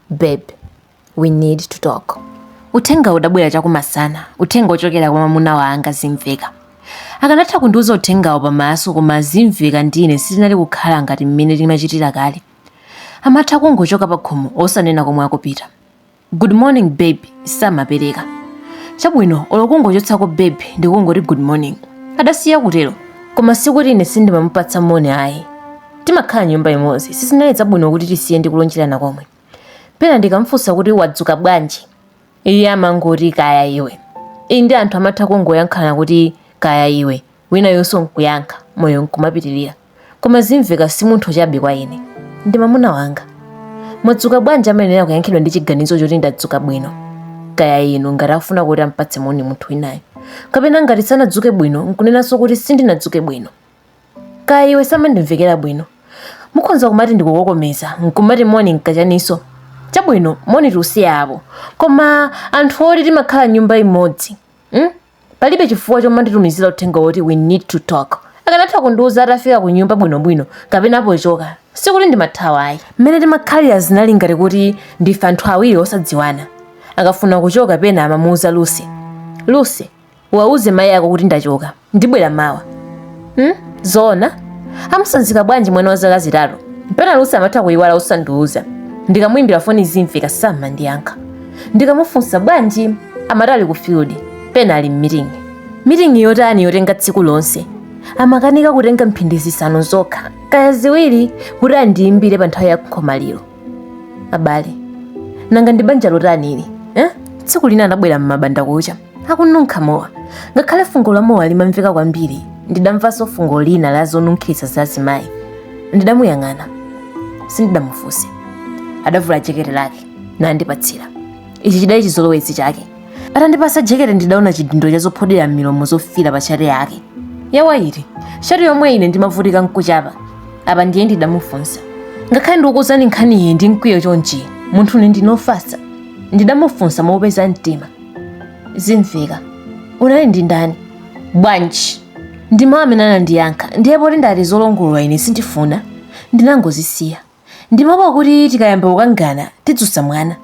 babe we need to talk uthenga udabwera chakumasana uthenga wochokera kwa mamuna wanga zimveka akanatha kundiuza uthengawo pamaso koma zimveka ndine sitinali kukhala ngati mmene timachitira kale amatha kungochoka pa khomo osanena komwe akupita good morning babe samapereka chabwino olo kungochotsako babe ndikungoti good morning adasiya kutero koma sikuti ine sindimamupatsa moni ayi timakhala m'nyumba imodzi sizinali zabwino kuti tisiye ndikulonjerana komwe pena ndikamfunsa kuti wadzuka bwanji iye amangoti kaya iwe iyi ndi anthu amatha kungoyankhana kuti kaya iwe winayonso nkuyankha moyo nkumapitirira koma zimveka si munthu chabe kwa ine ndi mamuna wanga mwadzuka bwanji amayenera kuyankhidwa ndi chiganizo choti ndadzuka bwino kaya inu ngati afuna kuti ampatse moni munthu winayo kapena ngati sanadzuke bwino nkunenanso kuti sindinadzuke bwino kaya iwe samandimvekera bwino mukhonza kumati ndikukokomeza nkumati moni nkachaninso chabwino moni tiusiye apo koma anthu oti timakhala nyumba imodzi mm? palibe chifukwa chomanditumizira uthenga woti we need to talk akanatha kundiuza atafika ku nyumba bwinobwino kapena pochoka sikuti ndimathawa ayi mmene timakhalira zinali ngati kuti ndife anthu awiri osadziwana akafuna kuchoka pena amamuuza lusi lusi uwauze mayi ako kuti ndachoka ndibwera mawa hmm? zoona amutsanzika bwanji mwana wa zaka zitatu mpena lusi amatha kuyiwala osandiuza ndikamuyimbira foni zimveka samandiyankha ndikamufunsa bwanji amati ali ku field pena ali mmitingi mitingi yotani yotenga tsiku lonse amakanika kutenga mphindi zisanu zokha kaya ziwiri kuti andiyimbire pa nthawi ya nkhomaliro abale nanga ndi banja lotani ili eh? tsiku lina anabwera m'mbandakucha akununkha mowa ngakhale fungo la mowa limamveka kwambiri ndidamvanso fungo lina la zonunkhiritsa za azimayi ndidamuyang'ana sindidamufunse adavula jekete lake nandipatsira ichi chidali chizolowezi chake atandipatsa jekete ndidaona chidindo cha zophodera m'milomo zofira pa shati yake yawaiti shati yomwe ine ndimavutika nkuchapa apa ndiye ndidamufunsa ngakhale ndikukuuzani nkhaniyi ndi mkwiyo chonchi munthune ndinofasa ndidamufunsa mopeza mtima zimveka unali ndi ndani bwanji ndi mawu amene anandiyankha ndiye poti ndati zolongolola ine sindifuna ndinangozisiya ndimaopa kuti tikayamba kukangana tidzutsa mwana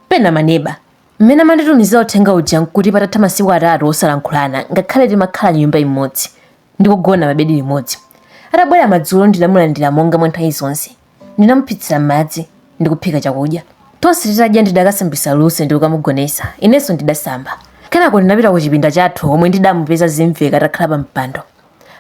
pena maneba mmene amanditumizira uthenga uja nkuti patatha masiku atatu osalankhulana ngakhale timakhala nyumba imodzi ndikugona pabedi limodzi atabwera madzulo ndinamulandira monga mwa nthawi zonse ndinamuphitsira madzi ndi kuphika chakudya tonse titadya ndidakasambitsa Lucy ndi kukamugonesa inenso ndidasamba kenako ndinapita ku chipinda chathu komwe ndidamupeza zimveka atakhala pa mpando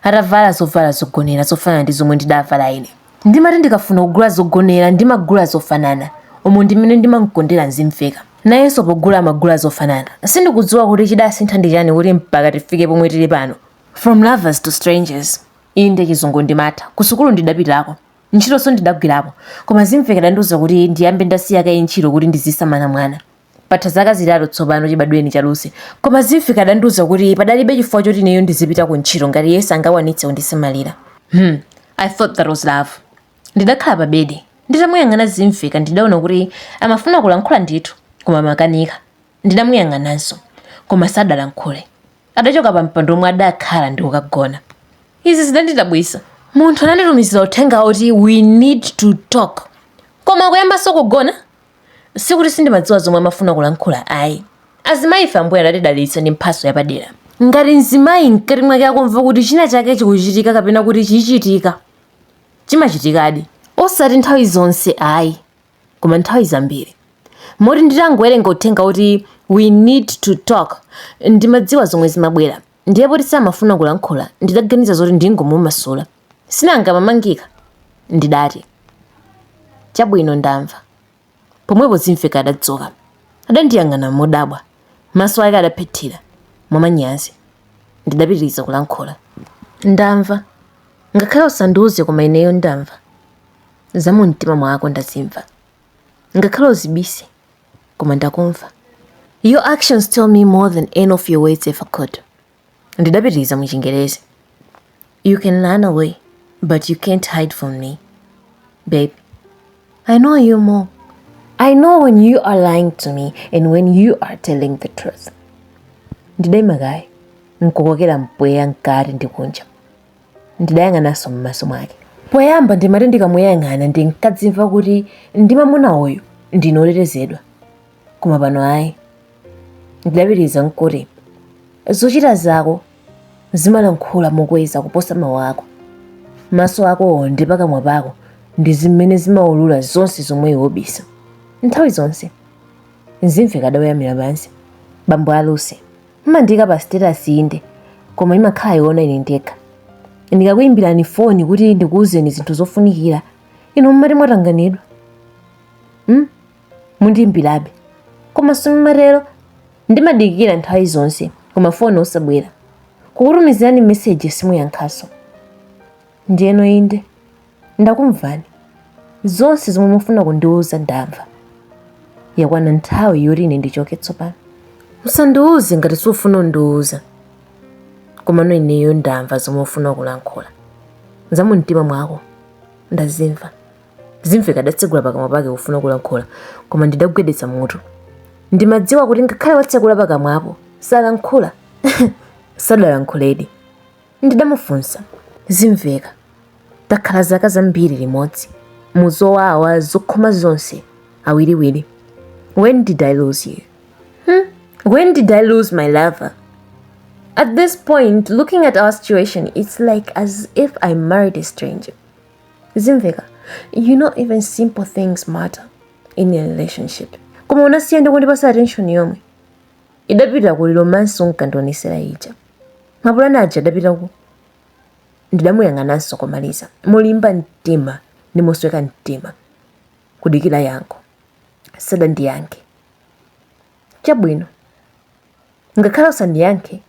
atavala zovala zogonera zofanana ndi zomwe ndidavala ine ndimati ndikafuna kugula zogonera ndimagula zofanana umu ndimene ndimamkondera zimveka nayenso pogula amagula zofanana sindikudziwa kuti chidasintha ndi chani kuti mpaka tifike pomwe tili pano from lovers to strangers inde chizungu ndimatha kusukulu ndidapitako Ntchitonso ndidagwirapo, koma zimveka adandiuza kuti ndiyambe ndasiya kaye ntchito kuti ndizisamala mwana. Patha zaka zitatu tsopano chibadwireni cha Lucy, koma zimveka adandiuza kuti padalibe chifukwa choti ineyo ndizipita kuntchito ngati iye sangakwanitse kundisamalira. Hmm, I thought that was love. Ndidakhala pabedi, nditamuyang'ana Zimveka ndidaona kuti amafuna kulankhula ndithu, koma amakanika. Ndidamuyang'ananso, koma sadalankhule. Adachoka pa mpando omwe adakhala ndi kukagona. Izi zidandidabwitsa. Munthu ananditumizira uthenga woti we need to talk koma akuyambanso kugona? Sikuti sindimadziwa zomwe amafuna kulankhula ayi. Azimayi ife Ambuye adatidalitsa ndi mphatso yapadera. Ngati mzimayi mkati mwake akumva kuti china chake chikuchitika kapena kuti chichitika, chimachitikadi. Osati nthawi zonse ayi. koma nthawi zambiri moti nditangowerenga uthenga woti we need to talk ndimadziwa zomwe zimabwera ndiye poti samafuna kulankhula ndidaganiza zoti ndingomumasula sinanga mamangika ndidati chabwino ndamva pomwepo zimveka adadzuka adandiyang'ana modabwa maso ake adaphethira mwamanyazi ndidapitiriza kulankhula ndamva ngakhale usandiuze koma ineyo ndamva za mu mtima mwako ndazimva ngakhale uzibise koma ndakumva your actions tell me more than any of your words ever could ndidapitiriza mu chingerezi you can run away but you can't hide from me babe i know you more i know when you are lying to me and when you are telling the truth ndidaima kaye nkukokera mpweya mkati ndi kunja Ndidayang'ananso m'maso mwake. Poyamba ndimati ndikamuyang'ana ndinkadzimva kuti ndi mwamuna uyu ndine wotetezedwa. Koma pano ayi. Ndidapitiriza nkuti, zochita zako zimalankhula mokweza kuposa mawu ako. Maso akowo ndi pakamwa pako ndi zimene zimaulula zonse zomwe iwe ubisa. Nthawi zonse. Zimveka adaweramira pansi. Bambo a Lucy. mumandiika pa status inde koma imakhala yoona ine ndekha ndikakuyimbirani foni kuti ndikuwuzeni zinthu zofunikira inu mumati mwatanganidwa hmm? mundiyimbirabe koma simumatero ndimadikira nthawi zonse koma foni osabwera kukutumizirani meseji simuyankhanso ndiyeno inde Ndakumvani. Zonse zomwe mufuna kundiwuza ndamva. Yakwana nthawi yoti ine ndichoke tsopano. Usandiwuze ngati sufuna kundiwuza. Komano ineyo ndamva zomwe ufuna kulankhula. Za mu mtima mwako ndazimva. Zimveka adatsegula pakamwa pake kufuna kulankhula koma ndidagwedeza mutu. Ndimadziwa kuti ngakhale watsegula pakamwapo salankhula. Sadalankhuledi. Ndidamufunsa, Zimveka, takhala zaka zambiri limodzi, mu zowawa zokoma zonse, awiriwiri, When did I lose you? Hmm? When did I lose my lover? At this point, looking at our situation, it's like as if I married a stranger. Zimveka, you know even simple things matter in a relationship. Koma unasiya ndi kundipatsa attention yomwe. Idapita kuti? Romance unkandionesera ija. Mapulani aja adapita kuti? Ndidamuyang'ananso komaliza. Molimba mtima ndi mosweka mtima. Kudikira yankho. Sadandiyankhe. Chabwino. Ngakhale usandiyankhe,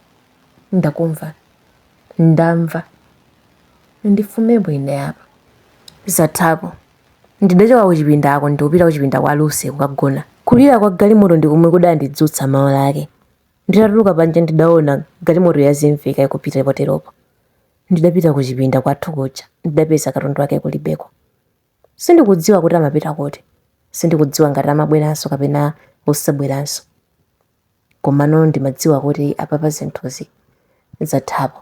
ndakumva. Ndamva. Ndichokemo ine apa. Zathapo. Ndidachoka kuchipindako ndikupita kuchipinda kwa Lucy kukagona. Kulira kwa galimoto ndi komwe kudandidzutsa mmawa wake. Nditatuluka panja ndidaona galimoto ya Zimveka ikupita poteropo ndidapita kuchipinda kwathu kuja ndidapeza katundu wake kulibeko. Sindikudziwa kuti amapita kuti. Sindikudziwa ngati amabweranso kapena osabweranso. Komano ndimadziwa kuti apapa zinthuzi zathapo.